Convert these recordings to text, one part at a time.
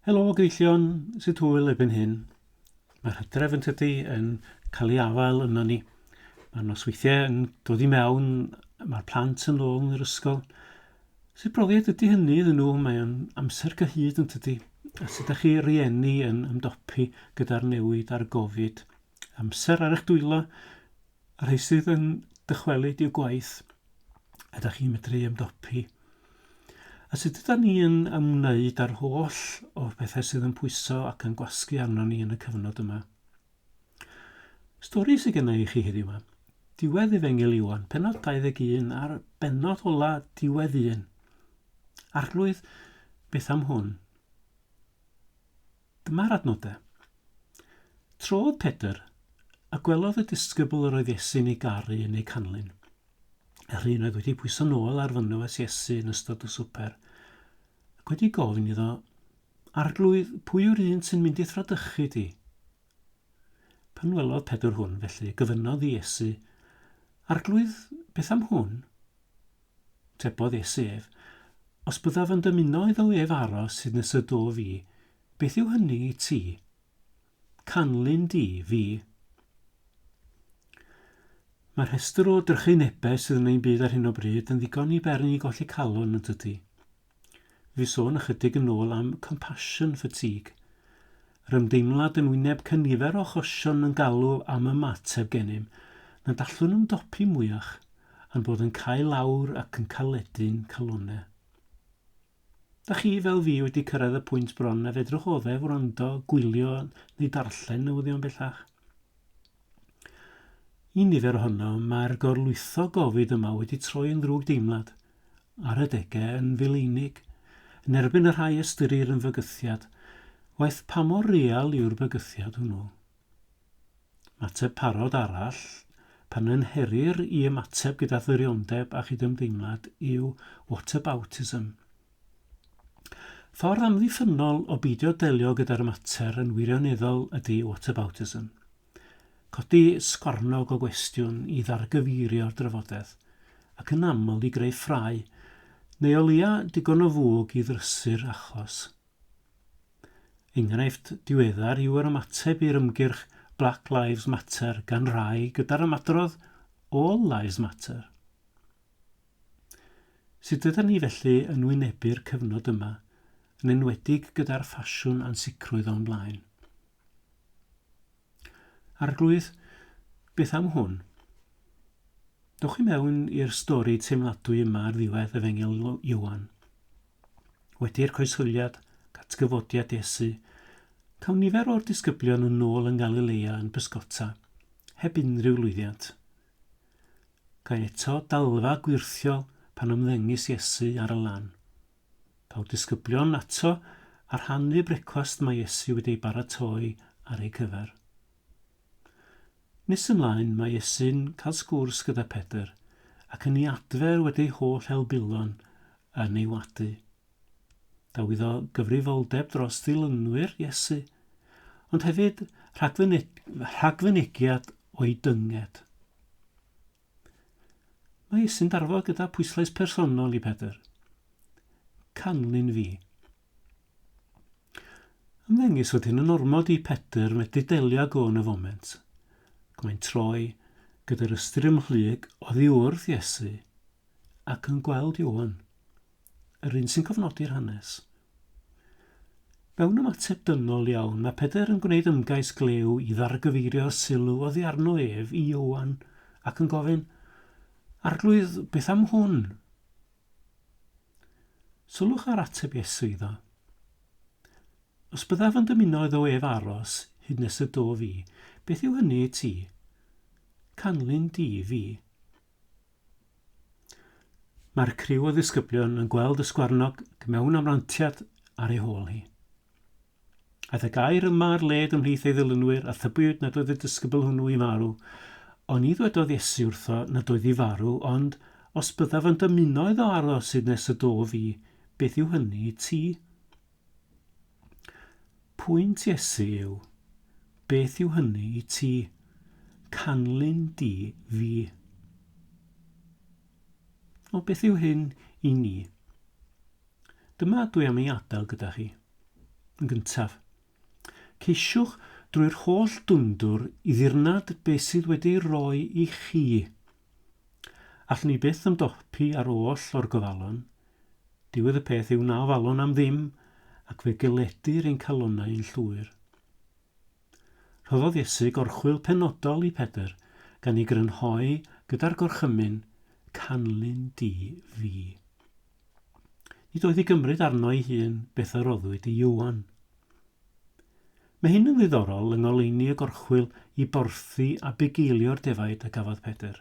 Helo Gyfeillion, sut hwyl erbyn hyn? Mae'r hydref yn tydi yn cael ei afael yno ni. Mae'r nosweithiau yn dod i mewn, mae'r plant yn ôl yn yr ysgol. Sut brofiad ydy hynny iddyn nhw? Mae'n amser cyhyd yn tydi? A sut ydych chi rieni yn ymdopi gyda'r newid a'r gofid? Amser ar eich dwylo, Y rhai sydd yn dychwelyd i'w gwaith, ydych chi'n medru ymdopi? A sut yda ni yn ymwneud â'r holl o'r pethau sydd yn pwyso ac yn gwasgu arno ni yn y cyfnod yma? Stori sydd genna i chi heddiw yma. Diwedd Efengil Iwan, penod 21 a'r benod ola diwedd 1. Arglwydd, beth am hwn? Dyma'r adnodau. Trodd Pedr, a gwelodd y disgybl yr oedd Iesu'n ei garu yn eu canlyn. Yr un oedd wedi pwyso nôl ar fynwes Iesu yn ystod y swper, ac wedi gofyn iddo, Arglwydd, pwy yw'r un sy'n mynd i'th fradychu di? Pan welodd Pedr hwn, felly, gofynnodd i Iesu, Arglwydd, beth am hwn? Tebodd Iesu ef, Os byddaf yn dymuno iddo ef aros hyd nes y do fi, beth yw hynny i ti? Canlyn di fi. Mae rhestr o drychinebau sydd yn ein byd ar hyn o bryd yn ddigon i beri ni golli calon, yn dydy? Fi sôn ychydig yn ôl am compassion fatigue. Yr ymdeimlad yn wyneb can nifer o achosion yn galw am ymateb gennym, nad allwn ymdopi mwyach, a'n bod yn cau lawr ac yn caledu'n calonnau. Da chi fel fi wedi cyrraedd y pwynt bron na fedrwch oddef wrando, gwylio neu darllen newyddion bellach. Y nifer ohono, mae'r gorlwytho gofid yma wedi troi yn ddrwg deimlad, ar adegau yn fil-einig, yn erbyn y rhai ystyrir yn fygythiad, waeth pa mor real yw'r bygythiad hwnnw. Mateb parod arall, pan ynherir i ymateb gyda thyriondeb a chydymdeimlad, yw whataboutism, Ffordd amddiffynnol o beidio delio gyda'r mater yn wirioneddol ydy whataboutism. Codi sgwarnog o gwestiwn i ddargyfeirio'r drafodaeth, ac yn aml i greu ffrae, neu o leia digon o fwg i ddrysu'r achos. Enghraifft diweddar yw yr ymateb i'r ymgyrch Black Lives Matter gan rai gyda'r ymadrodd All Lives Matter. Sut ydan ni felly yn wynebu'r cyfnod yma, yn enwedig gyda'r ffasiwn ansicrwydd o'n blaen? Arglwydd, beth am hwn? Dewch i mewn i'r stori teimladwy yma ar ddiwedd Efengyl Iowan. Wedi'r coesfyliad, atgyfodiad Iesu, cawn nifer o'r disgyblion yn ôl yn Galilea yn bysgota, heb unrhyw lwyddiant. Gan eto dalfa gwyrthiol pan ymddengys Iesu ar y lan. Daw'r disgyblion ato a rhannu brecwast mae Iesu wedi ei baratoi ar eu cyfer. Nes ymlaen mae Iesu'n cael sgwrs gyda Pedr ac yn ei adfer wedi ei holl helbulon yn ei wadu. Daw iddo gyfrifoldeb dros ddilynwyr Iesu, ond hefyd rhagfynegiad o'i dynged. Mae Iesu'n darfod gyda pwyslais personol i Pedr. Canlyn fi. Ymddengys fod hyn yn ormod i Pedr medru delio ag o yn y foment. Ac mae'n troi gyda'r ystyr ymhlyg oddi wrth Iesu ac yn gweld Iwan. Yr un sy'n cofnodi'r hanes. Mewn ymateb dynol iawn, mae Pedr yn gwneud ymgais glew i ddargyfeirio'r sylw oddi arno ef i Ioan ac yn gofyn, Arglwydd, beth am hwn? Sylwch ar ateb Iesu iddo. Os byddaf yn dymuno iddo ef aros hyd nes y do fi, beth yw hynny i ti? Canlyn di fi. Mae'r criw o ddisgyblion yn gweld y sgwarnog mewn amrantiad ar ei hôl hi. Aeth y gair yma ar led ymhlith ei ddilynwyr a thybiwyd nad oedd y disgybl hwnnw i farw, ond ni ddwedodd Iesu wrtho nad oedd i farw, ond os byddaf yn dymuno iddo aros hyd nes y dof i, beth yw hynny i ti? Pwynt Iesu yw, Beth yw hynny i ti? Canlyn di fi. O, beth yw hyn i ni? Dyma dwi am ei adael gyda chi. Yn gyntaf, ceisiwch drwy'r holl dwndwr i ddirnad beth sydd wedi roi i chi Allwn ni byth ymdopi â'r oll o'r gofalon. Diwedd y peth yw na ofalwn am ddim ac fe geledir ein calonnau yn llwyr. Rhoddodd Iesu gorchwyl penodol i Pedr gan ei grynhoi gyda'r gorchymyn, Canlyn di fi. Nid oedd i gymryd arno ei hun beth a roddwyd i Iwan. Mae hyn yn ddiddorol yng ngoleuni y gorchwyl i borthi a bugeilio'r defaid a gafodd Pedr.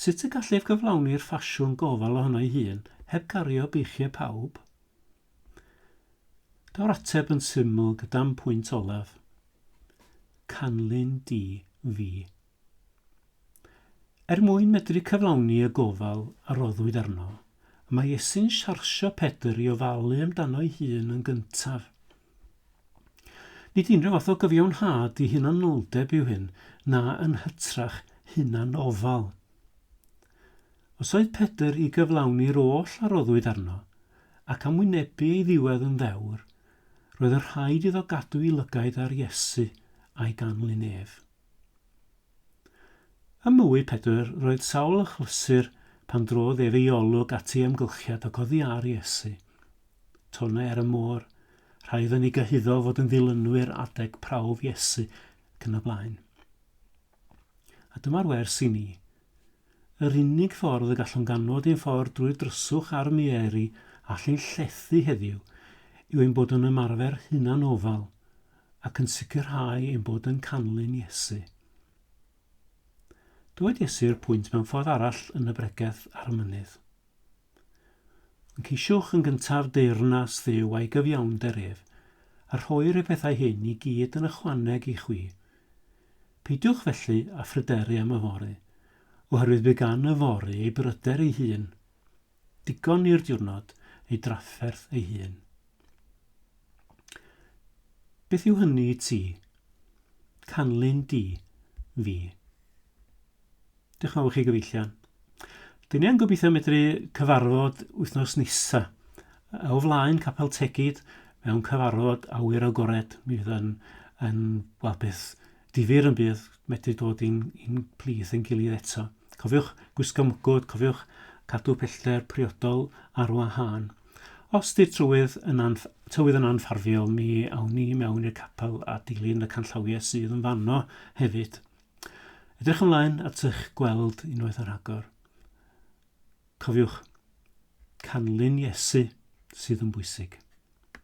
Sut y gall ef gyflawni'r ffasiwn gofal ohono ei hun heb gario beichiau pawb? Daw'r ateb yn syml gyda'm pwynt olaf, canlyn di fi. Er mwyn medru cyflawni y gofal a roddwyd arno, mae Iesu'n siarsio Pedr i ofalu amdano'i hun yn gyntaf. Nid unrhyw fath o gyfiawnhad i hunanoldeb yw hyn, na yn hytrach hunanofal. Os oedd Pedr i gyflawni'r oll a roddwyd arno, ac am wynebu ei ddiwedd yn ddewr, roedd yn rhaid iddo gadw'i lygaid ar Iesu a'i ganlyn ef. Ym mwy Pedr roedd Saul yn chlysur pan drodd ei rei-olwg at ei amgylchiad ac oddi ar Iesu. Tona ar y môr, rhai oedden ni gyhuddo fod yn ddilynwyr adeg prawf Iesu ac yn y blaen. A dyma'r wers i ni. Yr unig ffordd y gallwn ganfod ein ffordd drwy'r dryswch a'r mieri all ein llethu heddiw yw ein bod yn ymarfer hunanofal, ac yn sicrhau ein bod yn canlyn Iesu. Dywed Iesu i'r pwynt mewn ffordd arall yn y bregeth ar y mynydd. Yn ceisiwch yn gyntaf deyrnas ddew a'i gyfiawnder ef, a rhoi'r y pethau hyn i gyd yn ychwaneg i chwi. Peidiwch felly a phryderu am y fory, oherwydd bu gan y fory ei bryder ei hun. Digon i'r diwrnod ei drafferth ei hun. Beth yw hynny i ti? Canlyn di, fi. Diolch yn fawr chi gyfeillion. Dyn ni yn gobeithio medru cyfarfod wythnos nesa. O flaen Capel Tegid mewn cyfarfod awyr agored. Mi fydd yn, yn wel, beth Difyr yn bydd medru dod i'n i'n plith ein gilydd eto. Cofiwch gwisgo mwgwd, cofiwch cadw pellter priodol ar wahân. Os 'di'r trywydd yn anf- tywydd yn anfarfiol mi awn ni i mewn i'r capel a dilyn y canllawie sydd yn fanno hefyd. Edrych ymlaen at ych gweld unwaith ar rhagor. Cofiwch, canlyn Iesu sydd yn bwysig.